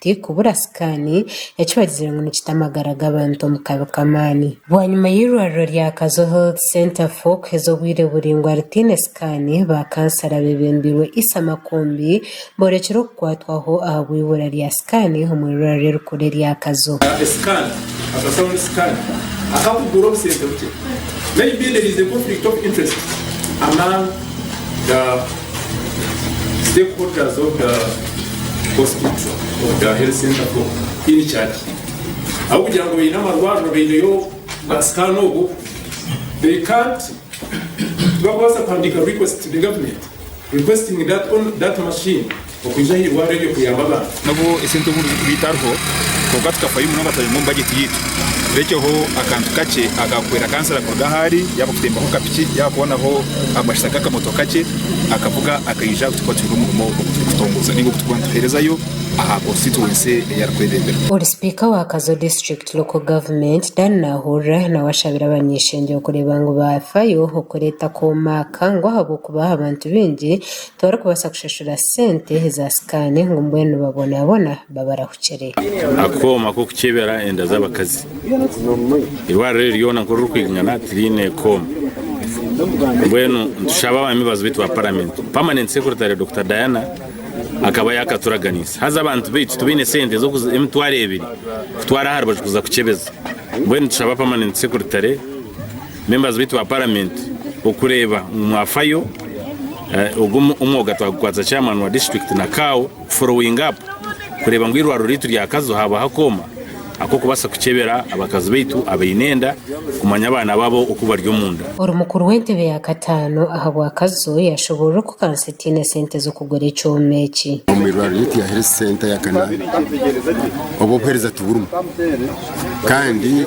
Tikubura sikaani, eki bagizire ngu nikita amagara g'abantu omu kabi k'amaani. Bwanyima y'eirwariro rya Kazo Health Centre fo kuheza obwire buringwa ritaine sikaani, ba kansara abebembirwe Isa Makumbi borekire okukwatwaho ahabw'eibura rya sikaani omu eirwariro erikuru erya Kazo. stakeholders of the hospital of the health center for in charge ahabw'okugira ngu baine amarwariro baineyo basikaana obu they can't tibakubaasa kuhandiika request to the government requesting that, on, that machine Okwija haihi kwa reediyo kuyamba abantu. N'obu esente obundi zirikubaita hariho, kwonka tukafayo munonga twayonga omu bajeti yaitu. Turekyeho akantu kakye aka kuhwera kansara kuruga ahu ari, yaaba kutembaho ka piki, yaaba kubonaho amashita g'akamotoka kakye akavuga akaija ahu turikuba twine omurimo ogu turikutongoza nainga ogu turikuba nituheerezayo aha konsitituwensi ei arikwebembera. Ori sipiika wa Kazo District Local Government, Dan Nahurira nawe ashabire abanyeshengyero kureeba ngu baafayo okureeta akooma aka ngu ahabw'okuba abantu baingi Tibarikubaasa kushashura sente za sikaani ngu mbwenu nibabonaabona babarahukire. Akooma k'okukyebera enda z'abakazi. Eirwariro eri ryona nkoku ririkwingana tiriine kooma. Mbwenu nitushaba abamibazi baitu ba paramenti, Permanent Secretary Dokita Diana akaba yaakaturaganiise. Haza abantu baitu tibaine sente z'emitwaro ebiri kutwara aha rubaju kuza kukyebeza. Mbwenu nitushaba Permanent Secretary. Members baitu ba parliament okureeba ngu mwafayo ogu omwoga twagukwatsa chairman wa district na cow following up kureeba ngu irwariro ryaitu rya kazo habaho akooma akokubasa kukyebera abakazi baitu abaine enda kumanya abaana babo oku bari omunda. Ori mukuru w'entebe ya kataano ahabwa kazo yashoborora oku kansa etaine sente z'okugura ekyoma eki. Omu irwariro ryaitu ya health center ya kana obu obuhereza tiburimu kandi